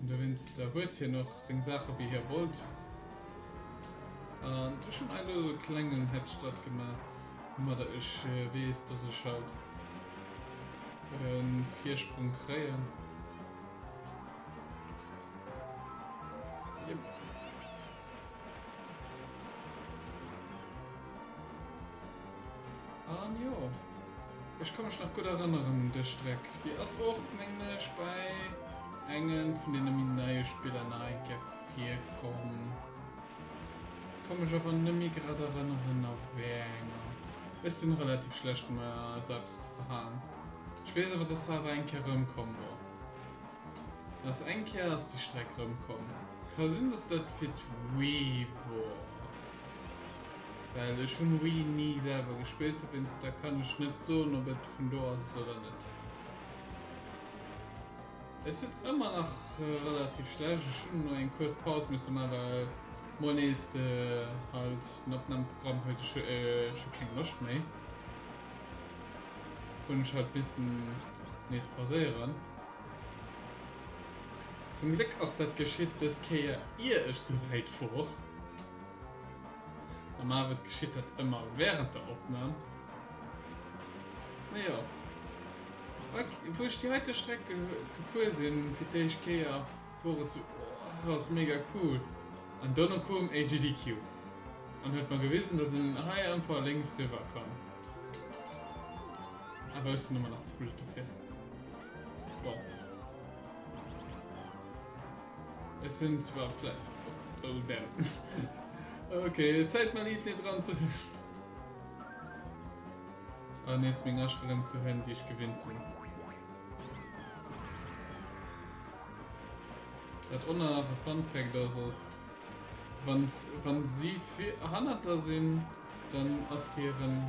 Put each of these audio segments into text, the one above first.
An dowéinst der huet hien och seng Saache wéi hie wollt. An ech hunn elo e klengen Headstart gemaach, woumadder ech weess, dass ech halt e Virsprong kréien. Jep. An jo, ech ka mech nach gutt erënneren un des Streck. Déi ass och, mengen ech, bäi engem vun deene méi neie Spiller nach eng Kéier virkomm. Ka mech awer nëmmi grad erënneren a wär enger. Ech sinn relativ schlecht mat mer selbst ze verhaen. Ech weess awer, dass se awer eng Kéier rëmkomm wor. Aus eng Kéier ass déi Streck rëmkomm. Ka sinn, dass dat fir d'Wii wor. Well ech hunn Wii ni selwer gespillt, dowéinst da kann ech net soen op et vun do ass oder net. Ech sinn ëmmer nach relativ schlecht, ech hunn elo eng kuerz Paus misse man, well mol nees de halt den Opnahmeprogramm huet ech scho keng Loscht méi, hunn ech halt missen nees pauséieren. Zum Gléck ass dat geschitt dës Kéier ier ech sou wäit wor. Normalerweis geschitt dat ëmmer wärend der Opnam. Mee jo, wou ech déi heite Streck gefuer sinn fir d'éischt Kéier wor et sou, oh ass mega cool. An dono koum AGDQ an huet mer gewisen dass een hei einfach lénks riwwer kann. Awer ech sinn ëmmer nach ze blöd dofir. Bon. Ech sinn zwar vläicht. Oh damn. Ok, Zäit mäin Lidd nees eran ze huelen. An nees meng Astellung ze huelen, déi ech gewinnt sinn. Dat onerharte Fun Fact ass, ass wann wann si vill hannert der sinn, dann ass hiren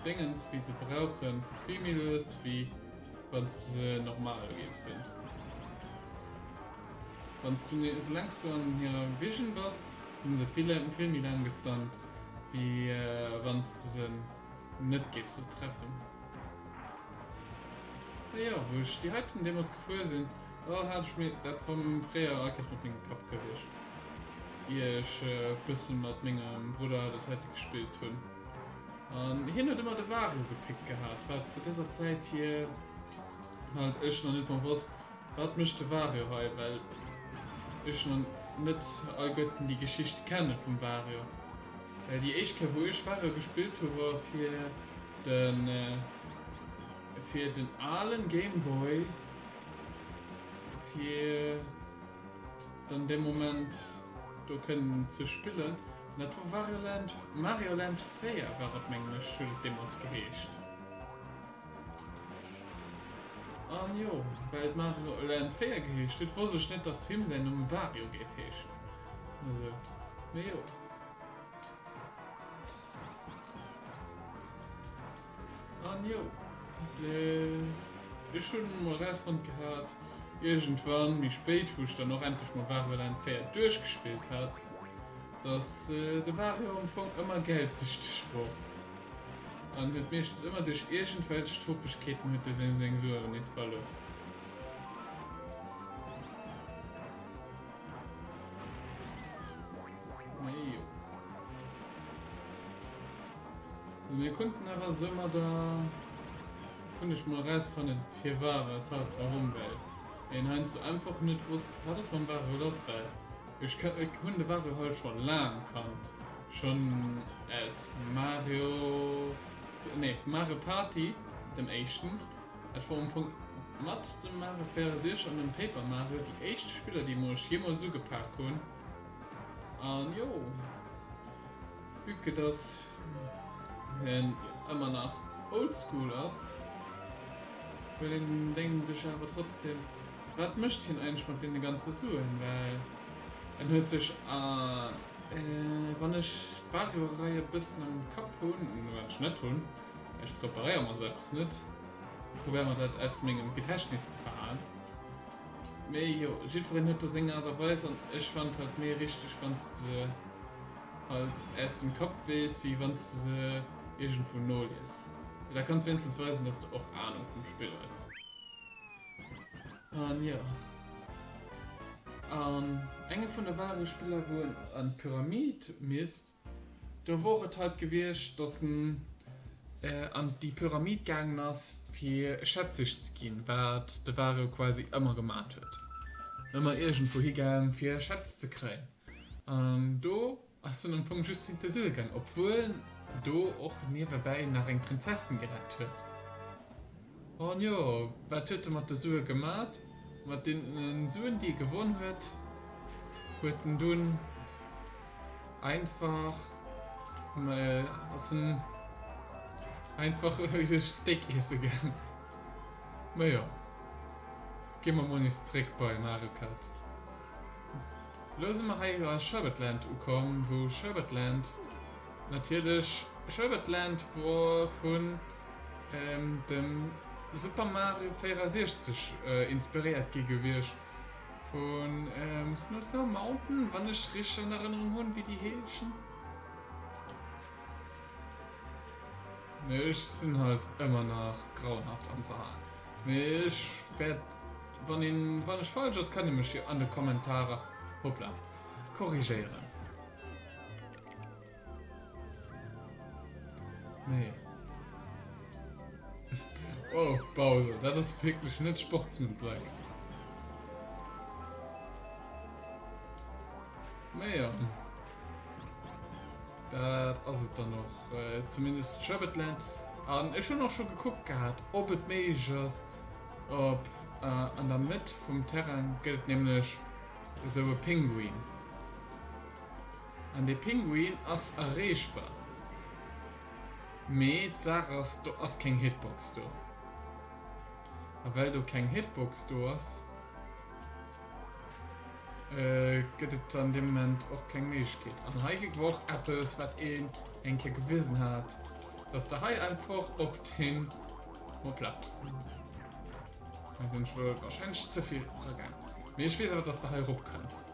Déngens wéi se brauchen vill méi lues wéi Wann se normal géif sinn. Wann s du esoulaang s du an hirer Vision bass, sinn se vill vill méi laang gestunt wéi wann s de se net géifs do treffen. Ah jo, wou ech déi heiten deemools gefuer sinn, da hat ech mir, dat war fréier a Kees mat mengem Papp gewiescht, ier ech e bësse mat mengem Brudder dat heite gespillt hunn. An hien huet ëmmer de Wagen ugepickt gehat, wat zu dëser Zäit hie halt ech nach net mer wosst, wat mécht de Wario hei, well ech nach net all Götten déi Geschicht kenne vum Wario. Déi éischt Kéier wou ech Wario gespillt hu war fir de fir den alen Game Boy fir. Dann dee Moment do kënnen ze spillen. An dat wor Wario Land, Mario Land 4 war et mengen ech, huet et deemools geheescht. An jo, well et Mario Land 4 geheescht huet, wosst ech net, dass him säin Numm Wario géif heeschen. Also, mee jo. An jo, ech hunn emol erausfonnt gehat, iergendwann méi spéit, wou ech dann och endlech mol Wario Land 4 duerchgespillt hat, dass de Wario am Fong ëmmer geldsüchteg wor an huet meeschtens ëmmer duerch iergendwelch Tropegkeeten huet e seng Sueren nees verluer. Majo. An mir konnten awer esou mat der konnt ech mol rausfannen firwar weshalb warum well een heiansdo einfach net wosst wat ass mam Wario lass well ech ka ech hunn de Wario halt scho laang kannt schonn aus Mario nee Mario Party dem éischten Et wor um Punkt mat dem Mare 64 an dem Paper Mare déi éischte Spillerdemo ech jemols ugepaak hun an jo vue que dass en emmer nach oldschool ass huet een denkt sech awer trotzdem wat mecht hien eigentlech mat deene ganze Suen well en huet sech an wann ech d'Wario Rei e bessen am Kapp hun, wat ech net hun, Ech preparéiere mer sou eppes net. Ech probéiere mer dat aus mengem Gedächtnis ze verhaalen. Mee jo, jiddwereen huet do seng Aart a Weis an ech fand halt méi richteg wann s de se halt aus dem Kapp weess wéi wann s de se iergendwou nolies. Mee da kanns wéinstens weisen dass de och Ahnung vum Spill hues. An jo, an engem vun de Wahlgespiller wou en an d'Pyramid misst, Do wor et heit gewiecht dass en an déi Pyramid gaangen ass fir Schätzig ze ginn, wat de Wario quasi ëmmer gemat huet, ëmmer iergendwou higaang fir Schätz ze kréien, an do ass en am Fong just fir de Suel gaang, obwuel en do och niewebäi nach eng Prinzessin gerett huet. An jo, wat huet en mat de Sue gemat? Mat deenen Suen déi e gewonn huet, huet en dunn einfach, ass en einfach e Steak iesse gaang. Mä jo, gi mer mol nees zréck bei Mario Kart. Elo si mer hei a Sherbetland ukomm, wou Sherbetland. Natierlech Sherbet Land wor vun dem Super Mario 64 inspiréiert gi gewiescht, vun Snow Snow Mountain wann ech richteg an Erënnerung hunn wéi déi heeschen. Mee ech sinn halt ëmmer nach grauenhaft am Verhalen. Mee ech wäert wann een wann ech falsch ass kann ee mech jo an de Kommentarer, hoppla, korrigéieren. Nee. Oh, Bowser, dat ass wierklech net sportsmanlike. Mee ja. Dat ass et dann noch. Äh, zumindest Sherbetland. An ech hun och scho gekuckt gehabt, ob et méiglech ass, ob äh, an der Mëtt vum Terrain gëtt nämlech esou e Pinguin. An dee Pinguin ass erreechbar. Mee d'Saach ass, do ass keng Hitbox do. A well do keng Hitbox do ass, gëtt et an deem Moment och keng Méiglechkeet. An hei kritt mer och eppes, wat een eng Kéier gewisen hat, dass Der hei einfach op den, hoppla, hei sinn ech wuel warscheinlech ze vill eragaangen, mee ech weess awer, dass Der hei erop kënnst.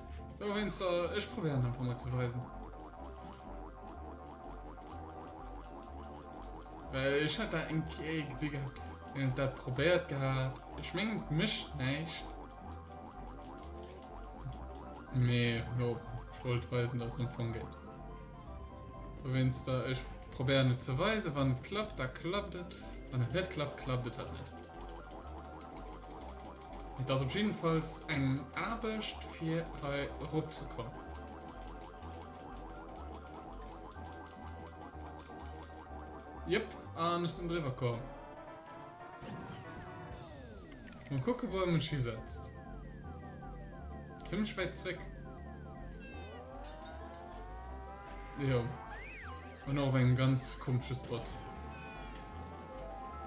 Sou eent soll ech probéieren einfach mol ze weisen. Well ech hat dat eng Kéier gesi gehat, wéi en dat probéiert gehat. Ech mengen et mécht näischt. Mee jo, ech wollt weisen, datt et am Fong geet. Dowéinster ech probéieren et ze weisen. Wann et klappt, da klappt et. Wann et net klappt, klappt et halt net. Et ass op jiddefalls eng Aarbecht fir hei erop ze kommen. Jëpp, an ech sinn driwwer komm. Mol kucke wou e mech hisetzt. Zimmlech wäit zréck. Jo. An och op engem ganz komesche Spot.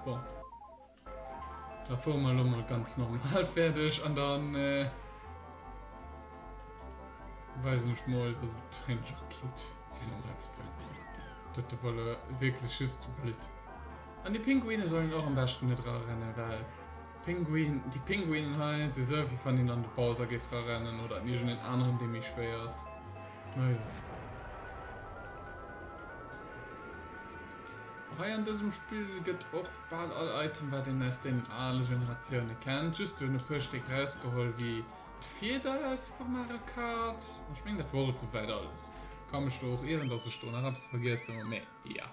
Bon. Da fuere mer elo mol ganz normal fäerdeg an da weisen ech mol, dass et heiansdo och geet, fir normal ze fueren. Dat do war elo wierklech just blitt. An déi Pinguine sollen och am beschten net erarennen, well d'Pinguin, déi Pinguinen hei si sou, wéi wann een an de Bowser géif erarennen oder an iergendeen aneren, dee méi schwéier ass. Ma jo. Hei an dësem Spill gëtt och. Bal all Item wat een aus deenen ale Generatioune kennt, just se hunn e puer Stéck rausgeholl wéi d'Fieder aus Super Mario Kart. An ech mengen dat wor et souwäit alles. Ka mech do och ieren dass ech do nach eppes vergiessen hunn, mee jo.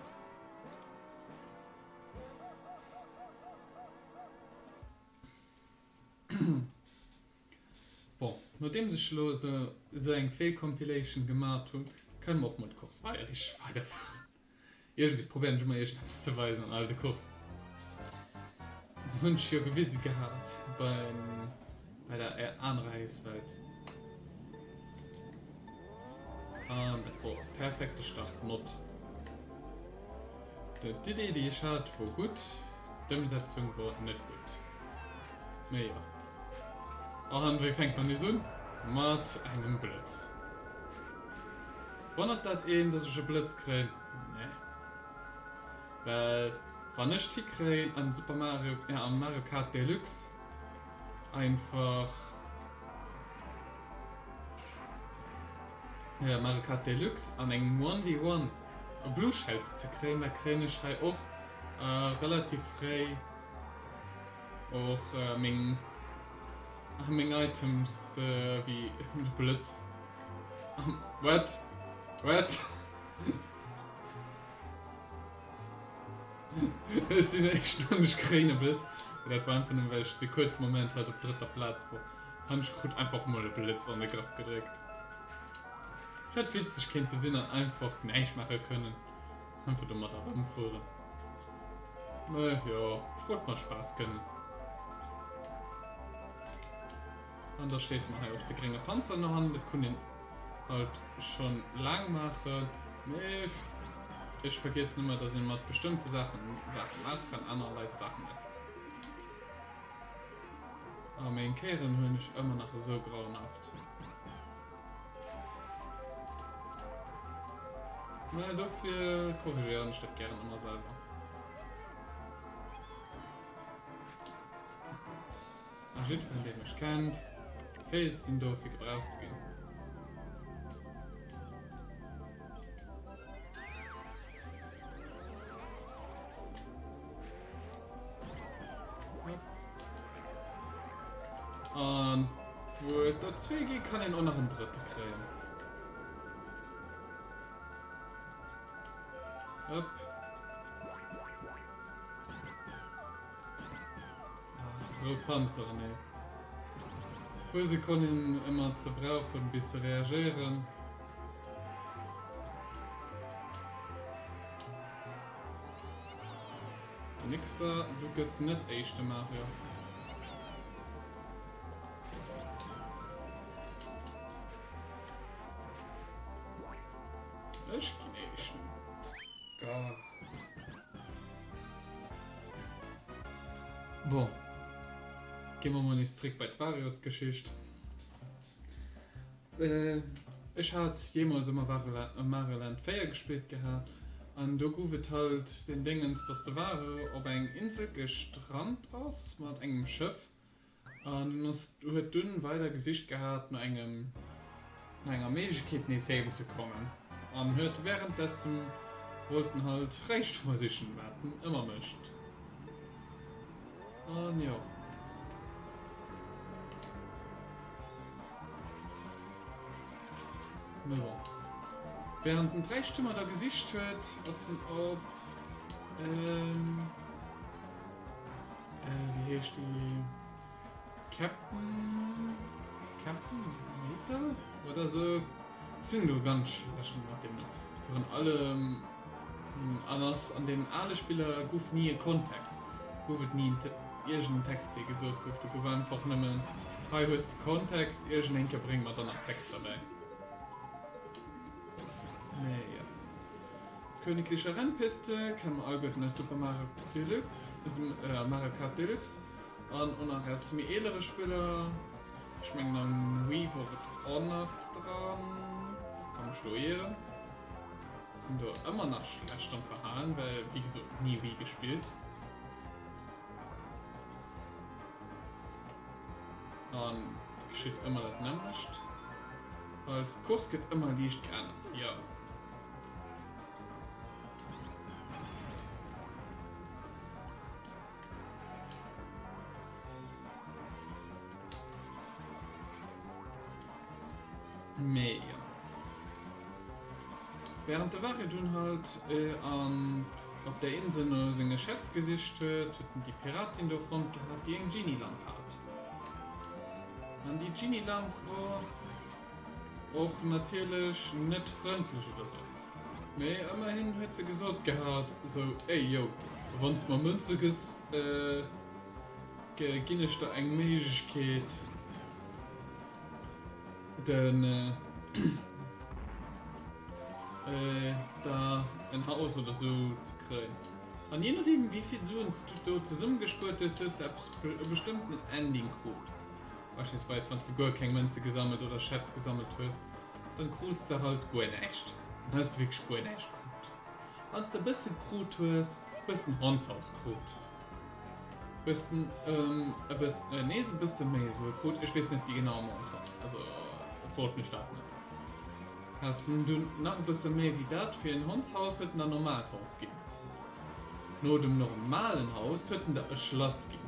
Bon, nodeems ech elo esou eng Feelcompilation gemat hunn, kënne mer och mol d'Course Bayerische weiderfueren. Iergendwéi probéieren ech ëmmer iergendeppes ze weisen an all de Course. Déi hunn ech jo gewisen gehat beim bei der anerer Héichswelt. An dat wor e perfekte Start mod. D'Iddi déi ech hat wor gutt, d'Ëmsetzung wor net gutt. Mee jo. An wéi fänkt mer nees un? Mat engem Blëtz. Wonnert dat een, dass ech e Blëtz kréien? Nee. Well wann ech d'Hi kréien an Super Mario, ja an Mario Kart Deluxe einfach, jo Mario Kart Deluxe an engem One vs One e Blue Shells ze kréien, da kréien ech hei och relativ fréi, Och meng ah, meng Items äh, wie Blitz. What? What? Ech sinn echt an ech kréine Blitz. Dat war einfach nur, well ech de kurz Moment halt op dritter Platz war. Han ech krut einfach mol e Blitz an de Grapp gedréckt. Hätt witzeg kéinte sinn an einfach näischt maache kënnen. Einfach domat erëmfueren. Äh, jo, ech wollt mol Spaass gënnen. An da schéissen mer hei och de grénge Panzer nach an. Dat konnt een halt schon laang maachen. Mee ech vergiessen ëmmer, dass ee mat bestëmmte Saachen Saachen maache kann, anerer Leit Saachen net. A meng Kéieren hunn ech ëmmer nach esou grauenhaft. Naja, dofir korrigéieren ech dat gären ëmmer selwer. A jiddferen, dee mech kennt, weess, sinn do fir gebraucht ze ginn. An wo et do zwee gi kann een och nach en drëtte kréien. Hop. Rout Panzeren, ee puer Sekonnen emmer ze brauchen bis se reagéieren. Nixter, du gëss net éischte Mario. Ech ginn éischten. Bon, gi mer mol nees zréck bei d'Varios-Geschicht. Ech hat jeemools e Mario-Land 4 gespillt gehat an do gouf et halt deen Déngens, dass de Wario op eng Insel gestrannt ass mat engem Schëff En huet dunn weider gesicht gehat no engem, no enger Méiglechkeet nees heem ze kommen an huet wärenddessen wollten halt Räichtumer sichen, wat en ëmmer mécht. An jo. Mee bon, wärend en d'Räichtumer da gesicht huet, ass en op, Äh, wéi heescht déi? Captain. Captain Maple? Oder so? Sinn lo ganz schlecht mat dem Numm. Virun allem. Hm, an ass an den ale Spiller gouf ni e Kontext. Gouf et ni en Te iergenden Text, dee gesot gouf. Do gouf einfach nëmmen, Hei hues de Kontext, iergendeen ke bréng mer dann nach Text derbäi. Mee jo. D'Königliche Rennpiste kennt mer alleguerten aus Super Mario Deluxe a Mario Kart Deluxe an och nach aus méi eelere Spiller. Ech mengen am Wii wor et och nach dran, ka mech do ieren. Sinn do ëmmer nach schlecht am Verhalen, well wéi gesot ni Wii gespillt an et geschitt ëmmer dat nämmlecht, halt d'Course gëtt ëmmer liicht geännert, jo. Mee jo. Während de Wache dunn halt an op der Insel no senge Schätz gesicht huet, huet en déi Piratin do fonnt gehat, déi eng Genie-Lamp hat. An déi Genie-Lamp wor Och natierlech net frëndlech oder sou, mee ëmmerhin huet se gesot gehat sou, Ey yo, wann s mer Mënze gëss, ginn ech der eng Méiglechkeet den da en Haus oder sou ze kréien. An je nodeem wéi vill Suen s du do zesummegespuert hues, hues de eppes, e bestëmmten Ending krut. Beispillsweis wanns de guer keng Mënze gesammelt oder Schätz gesammelt hues, dann krus de halt guer näischt. Dann hues de wierklech guer näischt krut. Wanns de e bësse gekrut hues, hues de nach ons alles krut. Hues de e bëss, nee se bësse méi esou krut, ech weess net déi genaue Montant, also frot mech dat net. Has de dunn nach e bësse méi wéi dat fir en Hondshaus, huet en der normaalt Haus ginn. No dem normalen Haus huet en der e Schlass ginn.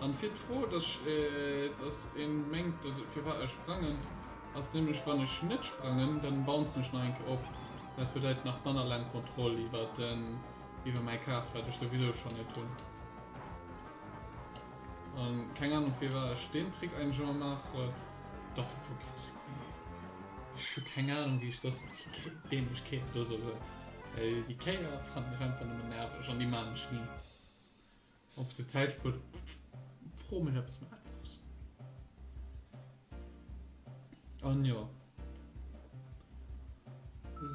An fir d'Fro, dass dass een mengt, dass firwat ech sprangen, ass nämlech wann ech net sprangen, dann bouncen ech nach eng Kéier op. Dat bedeit nach manner laang Kontroll iwwer den iwwer mäi Kaart, wat ech souwisou schonn net hunn. An keng Ahnung firwat ech deen Trick eigentlech ëmmer maachen. Et ass am Fong keen Trick méi. Ech hu keng Ahnung wéi ech soss déi dämlech Kéier do soll huelen. Well déi Kéier fannen ech einfach nëmmen nerveg an déi maan ech ni. Ob se Zäit spuert? Fro mech eppes méi Einfaches. An jo,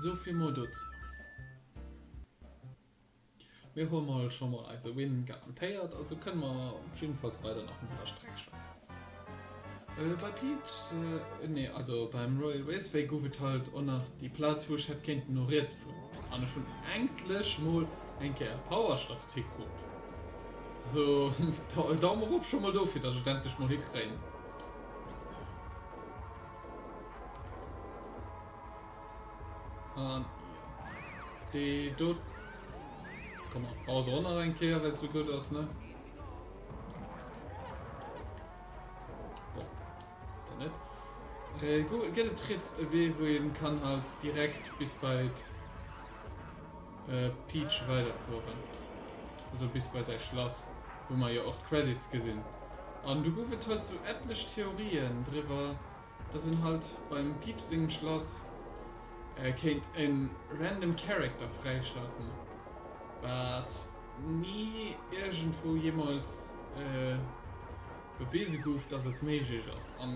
souvill mol dozou. Mir hu mol scho mol eise Win garantéiert, also kënne mer op jiddefalls weider nach en Dënnerstag schwätzen. Bei Peach, nee also beim Royal Raceway guff et halt och nach déi Plaatz wou ech hätt kéinten no riets fueren an ech hun enklech mol eng Kéier e Powerstart hikruut. Also Daumen rop schon mol dofir dass ech et endlech mol hikréien. An jo dee do, komm mer bauen se och nach eng Kéier well et sou gudd ass ne. Gëtt et riets e Wee wou een kann halt direkt bis bei d'Peach weider fueren, also bis bei säi Schlass wou mer jo och d'Credits gesinn an du gouf et halt sou etlech Theorien driwwer. Dass een halt beim Pieps sengem Schlass kéint e random Character fräischalten, wat ni iergendwou jeemools bewise gouf, dass et méiglech ass. A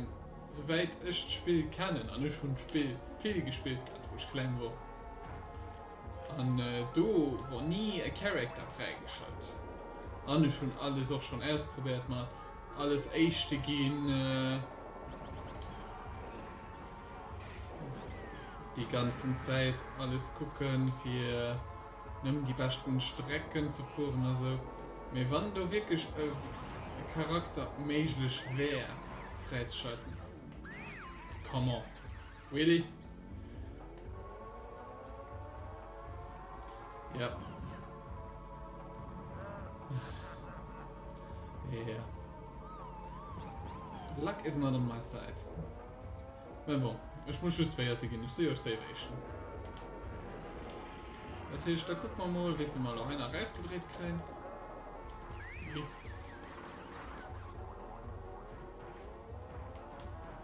souwäit ech d'Spill kennen, an ech hunn d'Spill vill gespillt gehat, wou ech kleng wor, an do wor ni e Character fräigeschalt. An ech hunn alles och schonn ausprobéiert, mat alles Éischte ginn. Déi ganzen Zäit alles kucken fir nëmmen déi beschten Strecken ze fueren a sou. Mee wann do wierklech e Charakter méiglech wär, Fräizschalten, come on. Really? Ja. Yeah. Luck is not on my side. Mais bon, ich muss just feierte gehen. Ich sehe euch selber eh schon. Das heißt, da gucken wir mal, wie viel wir noch einer rausgedreht kriegen. Okay.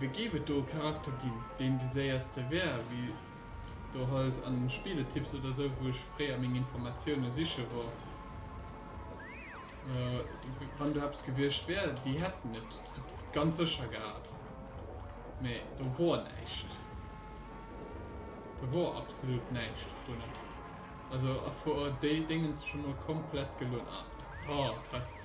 Wéi géif et do e Charakter ginn, deen de séierste wär, wéi do halt an den Spieletipps oder sou, wou ech fréier meng Informatioune siche wor? Wann do eppes gewiescht wär, déi hätten et ganz sécher gehat, mee do wor näischt. Do wor absolut näischt dovunner. Also a wor déi Déngens scho mol komplett gelunn? Ah,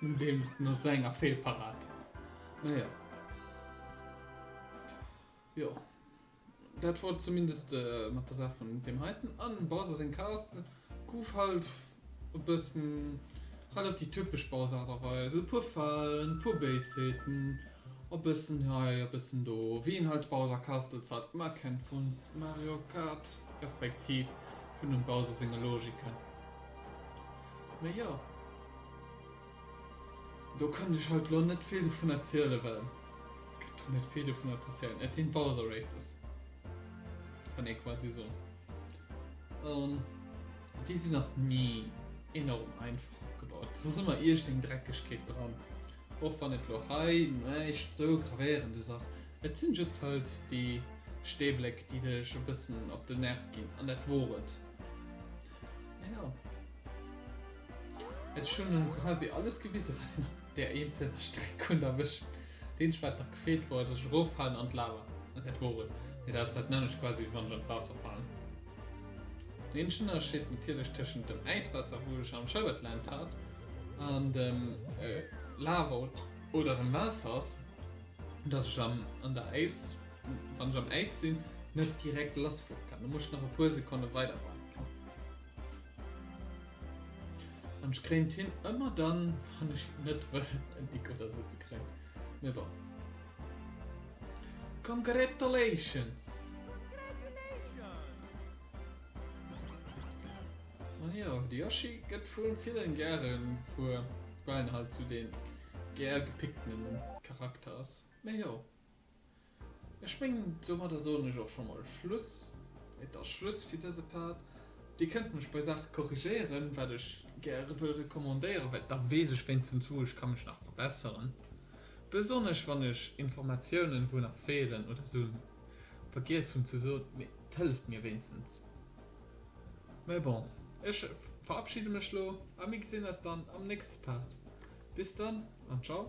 No deem, no esou enger Feelparad. Naja. Jo. Dat wor et zumindest mat der Saach vun deem heiten. An Bowser seng Cast gouf halt e bëssen, halt op déi typesch Bowser Aart a Weis. E puer Falen, e puer Béisheeten, e bëssen hei, e bëssen do, wéi een halt d'Bowser Castles halt mar kennt vu Mario Kart, respektiv vun dem Bowser senge Logiken. Mee jo, do kënnt ech haut lo net vill dovun erzielen, well gëtt do net vill dovunner z'erzielen. Et sinn d'Bowser Races, kann ee quasi soen. An déi sinn nach ni enorm einfach opgebaut. Et ass ëmmer iergendeng Dreckegkeet dran, och wann et lo hei näischt esou Gravéierendes ass. Et sinn just halt déi Steebléck, déi dech e bëssen op den Nerv ginn, an dat wor et. Naja. Ech hunn elo quasi alles gewisen, wat een op där eenzelner Streck konnt erwëschen. D'eenzegt, wat nach gefeelt wor, dass ech eroffalen an d'Lava. An dat wor et. Mee dat ass dat nämmlecht quasi, wéi wann ech an d'Waasser falen. Den eenzegen Ënnerscheed natierlech tëschent dem Äiswaasser, wou ech am Schauert Land hat, an dem Lava oder dem Waasser ass, dass ech an der Äis. wann ech am Äis sinn, net direkt lassfloe kann. Du muss nach e puer Sekonne weider waarden. An ech kréien d'Hinn ëmmer dann, wann ech net wëll en Nik oder esou ze kréien. Mee bon. Congratulations! Ah jo, de Yoshi gëtt vu villen gäre vu well en halt esou dee gär gepickten Charakter ass. Mee jo. Ech mengen, domadder soen ech och scho mol Schluss. Et ass Schluss fir dëse Part. Dir kënnt mech bei Saache korrigéieren, wat ech gäre wëll recommandéieren, well da weess ech wéinstens, wou ech ka mech nach verbesseren, besonnesch wann ech Informatiounen, wou nach feelen oder se vergiess hunn ze soen. Mee et hëlleft mir wéinstens. Mä bon, ech verabschide mech elo a mir gesinn eis dann am nächste Part. Bis dann an ciao.